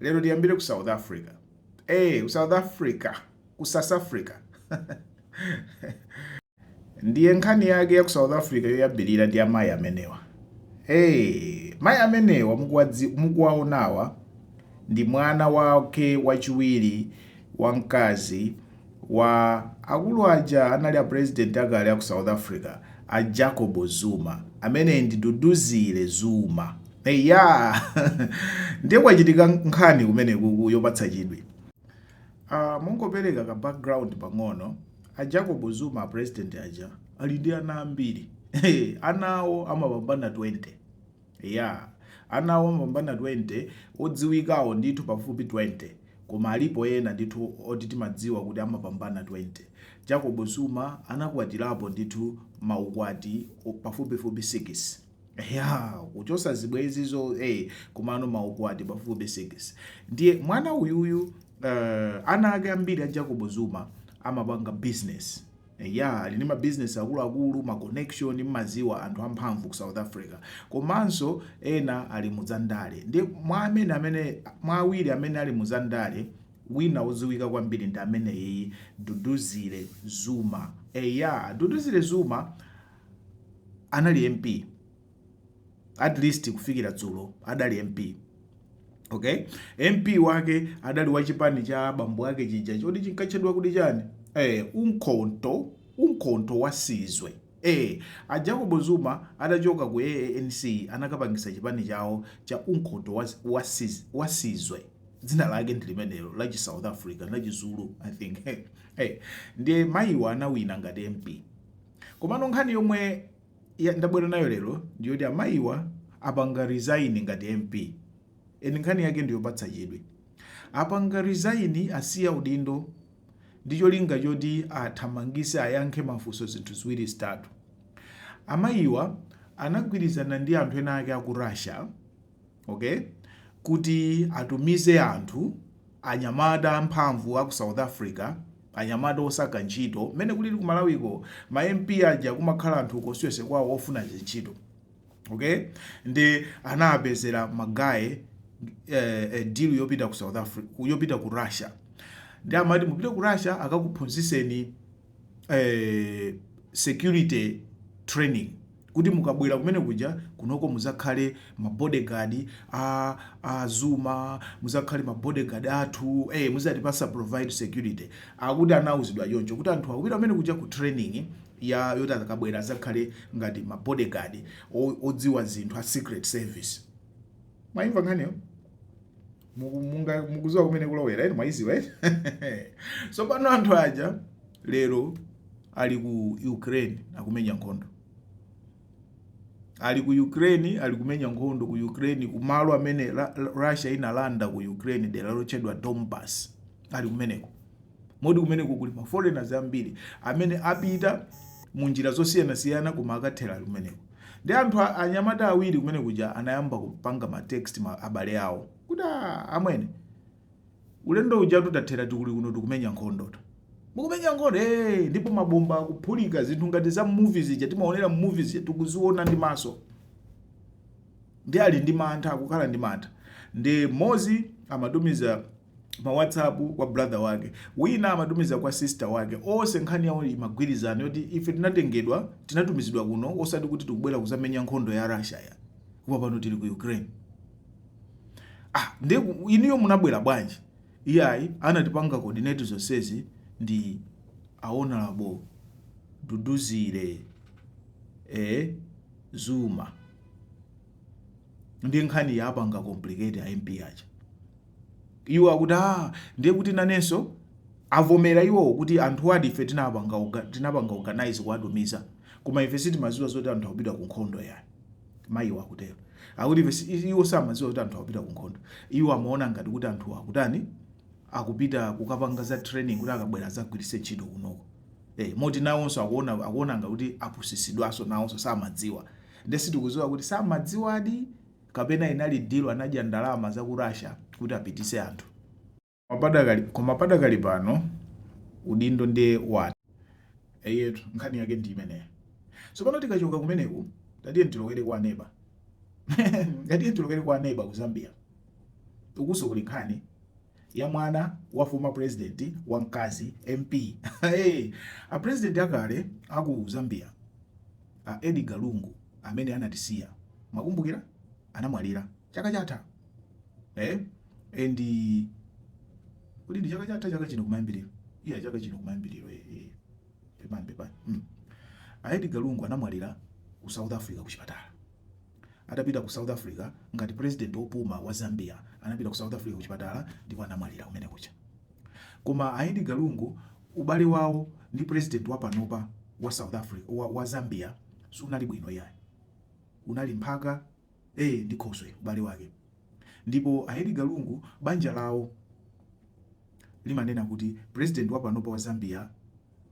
Lero tiyambire ku South Africa. Eee ku South Africa, ku South Africa. Ndiye nkhani yake ya ku South Africa yoyambirira ndi ya amayi amenewa. Eee, mayi amenewa mukuwaonawa ndi mwana wake wachiwiri wamkazi wa akulu aja anali a president akale aku south africa a jacob zuma ameneyi ndi duduzile zuma eyaa ndiye kwachitika nkhani kumenekuku yopatsa chidwi uh, mongopereka ka background pang'ono a jacob zuma a president aja ali ndi ana ambiri anawo amapambana 20 Eya, anawo amapambana 20 odziwikawo ndithu pafupi 20 koma alipo ena ndithu oti timadziwa kuti amapambana 20. Jacob Zuma anakwatirapo ndithu ma ukwati pafupifupi 6. Eya, kuchosa zibwenzizo ee komano ma ukwati pafupifupi 6. Ndiye mwana uyuyu, ana ake ambiri a Jacob Zuma amapanga business. Eya ali ndi ma business akuluakulu, ma connection mmadziwa anthu amphamvu ku South Africa komanso ena ali mu za ndale nde mwa amene amene mwa awiri amene ali mu za ndale wina odziwika kwambiri ndi ameneyiyi Duduzile Zuma eya Duduzile Zuma anali MP at least kufikira dzulo adali mp okay mp wake adali wa chipani cha bambo ake chija choti chikutchedwa kuti chani eh, umkhonto umkhonto wasizwe eh, a jacob zuma adachoka ku anc anakapangisa chipani chawo cha umkhonto was- wasiz- wasizwe dzina lake ndi limenelo la chi south africa la chizulu i think eh, ndiye mayiwa anawina ngati mp komano nkhani yomwe ya ndabwera nayo lero ndiyoti amayiwa apanga resign ngati mp ee nkhani yake ndiyopatsa chidwi apanga resign asiya udindo ndi cholinga choti athamangise ayankhe mafunso zinthu ziwiri zitatu amayiwa anagwirizana ndi anthu ena ake aku russia okay, kuti atumize anthu anyamata amphamvu a ku South Africa anyamata osaka ntchito mmene kulili ku Malawiko ma MP aja kumakhala anthu constituency kwawo ofuna zintchito okay nde anawapezera magaye eh, eh, deal yopita ku South Africa yopita ku Russia nde amati mupite ku Russia akakuphunziseni eh, security training kuti mukabwera kumene kuja kunoko muzakhale ma bodyguard a a Zuma muzakhale ma bodyguard athu eh muzatipasa provide security akuti anauzidwa choncho kuti anthu akupita kumene kuja ku training ya yoti akabwera azakhale ngati ma bodyguard odziwa zinthu a secret service mwaimva nkhaniyo mukuziwa kumene kulowera eti mwayiziwa eti tsopano anthu aja lero ali ku Ukraine akumenya nkhondo ali ku Ukraine ali kumenya nkhondo ku Ukraine kumalo amene Russia inalanda ku Ukraine dera lotchedwa Donbas ali kumeneko modi kumeneko kuli ma foreigners ambiri amene apita mu njira zosiyanasiyana koma akathera ali kumeneko Ndiye anthu anyamata awiri kumene kuja anayamba kupanga ma text abale awo kuti ah, amwene ulendo uja titathera tili kuno tikumenya nkhondo tu mukumenya nkhondo eh, ndipo mabomba akuphulika zinthu ngati za movies ija timaonera movies tikuziona ndi maso Ndiye ali ndi mantha akukhala ndi mantha ndiye mmodzi amatumiza ma whatsapp kwa brother wake wina amatumiza kwa sister wake onse nkhani yawo imagwirizana yoti ife tinatengedwa tinatumizidwa kuno osati kuti tikubwera kuzamenya nkhondo ya Russia yayi koma pano tili ku Ukraine ah ndiye ku- inuyo munabwera bwanji iyayi anatipanga coordinate zonsezi ndi a Honourable Duduzile eh Zuma ndiye nkhani yapanga complicate a MP aja iwo akuti ah ndiye kuti nanenso avomera iwowo kuti anthuwadi ife tinapanga oga- tinapanga organize kuwatumiza koma ife sitimaziwa zoti anthuwa akupita ku nkhondo yayi mayiwo akutero akuti ife si- i- iwo samaziwa kuti anthu akupita ku nkhondo iwo amaona ngati kuti anthu akutani akupita kukapanga za training kuti akabwera azagwiritse ntchito kunoko Eh, moti nawonso akuona akuona ngati kuti apusisidwanso nawonso samadziwa nde sitikuziwa kuti samadziwadi kapena inali deal anadya ndalama za ku Russia kuti apitise anthu Mapadakali, koma padakali pano udindo ndiye watha eyetu nkhani yake ndi imeneyo tsopano tikachoka kumeneku tatiye tiwolokere kwa neba tatiye tiwolokere kwa neba ku Zambia ukunso kuli nkhani ya mwana wa former president wa mkazi MP a president akale aku Zambia a Edgar Lungu amene anatisiya mukukumbukira anamwalira chaka chatha eh and kuti ndi chaka chatha chaka chino kumayambiriro iya chaka chino kumayambiriro eh, eh. pepani pepani mm. a Edgar Lungu anamwalira ku South Africa ku chipatala Atapita ku South Africa ngati president opuma wa Zambia anapita ku South Africa kuchipatala ndipo anamwalira kumene kuja. Koma a Edgar Lungu ubale wawo ndi president wapanopa wa South Africa wa, wa Zambia sunali bwino iyayi. Unali mphaka ee ndi khoswe ubale wake. Ndipo a Edgar Lungu banja lawo limanena kuti president wa panopa wa Zambia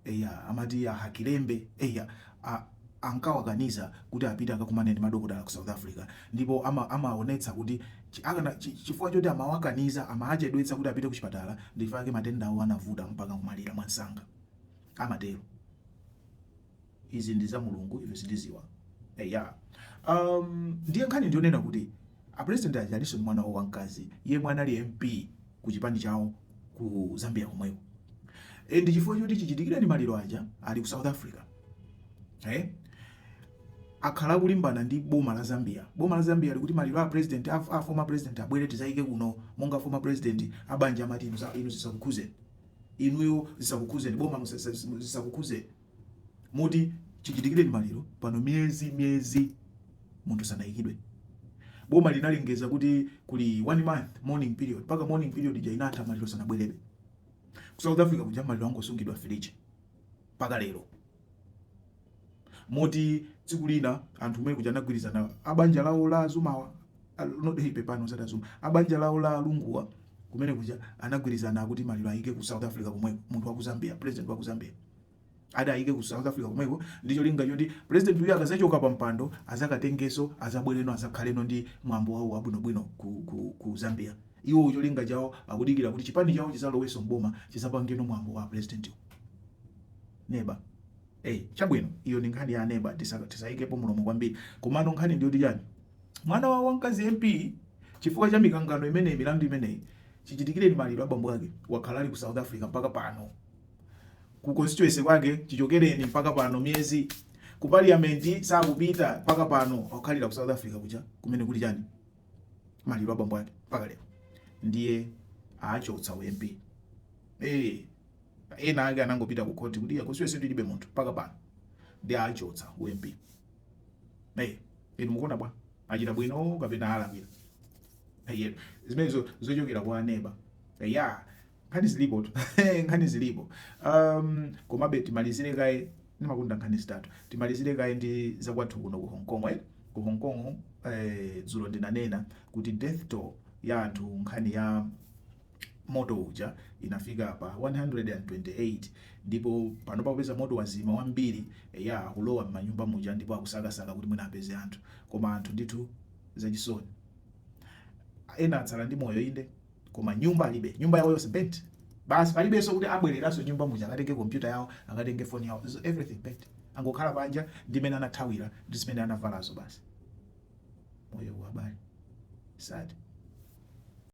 eya amati a Hakainde eya a ankawakaniza kuti apite akakumane ndi madokotala ku South Africa ndipo ama amaonetsa kuti chi akana chi chifukwa choti amawakaniza amaachedwetsa kuti apite kuchipatala ndichifukwa chake matenda awo anavuta mpaka kumwalira mwamsanga amatero. izi ndi za mulungu ife sitiziwa eya um, ndiye nkhani ndiyonena kuti a president aja alinso ndi mwana wawo wamkazi yemwe anali mp ku chipani chawo ku zambia komweko e, ndi chifukwa choti chichitikireni maliro aja ali ku south africa eh? akhala akulimbana ndi boma la zambia boma la zambia likuti maliro a president a, a former president abwere tizaike kuno monga former president abanja amati inu za- inu zisakukhuzeni inuyo zisakukhuzeni boma zisakukhuzeni moti chichitikireni maliro pano miyezi miyezi munthu sanayikidwe boma linalengeza kuti kuli one month mourning period mpaka mourning period ija inatha maliro sanabwerebe ku south africa kuja maliro angosungidwa fridge mpaka lero moti tsiku lina anthu kumene kuja anagwirizana abanja lawo la azumawa nodei pepani osati azuma abanja lawo la alunguwa kumene kuja anagwirizana kuti maliro ayike ku south africa komweko munthu wa ku zambia president wa ku zambia ati ayike ku south africa komweko ndi cholinga choti president uyu akazachoka pa mpando azakatengeso azabwereno azakhaleno ndi mwambo wawo wabwinobwino ku, ku, ku zambia iwo cholinga chawo akudikira kuti chipani chawo chizaloweso mboma chizapangeno mwambo wa president uyu Neba. eyi chabwino iyo ndi nkhani ya neba tisa tisayikepo mlomo kwambiri komano nkhani ndiyoti chani mwana wawo wamkazi MP chifukwa cha mikangano imeneyi milandu imeneyi chichitikireni maliro a bambo ake wakhala ali ku south Africa mpaka pano ku constituency kwake chichokereni mpaka pano miyezi ku parliament sakupita mpaka pano akukhalira ku south Africa kuja kumene kuli chani maliro a bambo ake mpaka lero ndiye achotsa u MP ee Ena ake anangopita ku khoti kuti constituency tilibe munthu mpaka pano ndiye achotsa u MP. Hey, inu mukuona bwa? Achita bwino kapena alakwira? Hey, zimenezo zochokera kwa neba. Hey, ya, nkhani zilipotu. nkhani zilipo. Um, komabe timalizire kaye ndimakonda nkhani zitatu. Timalizire kaye ndi zakwathu kuno ku Hong Kong. Eh? Ku Hong Kong eh, dzulo ndinanena kuti death toll ya anthu nkhani ya moto uja inafika pa 128 ndipo panopa popeza moto wazima ambiri eya akulowa mmanyumba muja ndipo akusakasaka kuti mwina apeze anthu koma anthu ndithu zachisoni ena atsala ndi moyo inde koma nyumba alibe nyumba yawo yonse burnt basi palibenso kuti abwereranso nyumba muja akatenge kompyuta yawo akatenge foni yawo so everything burnt angokhala panja ndi mmene anathawira ndi zimene anavalazo basi moyo abale sad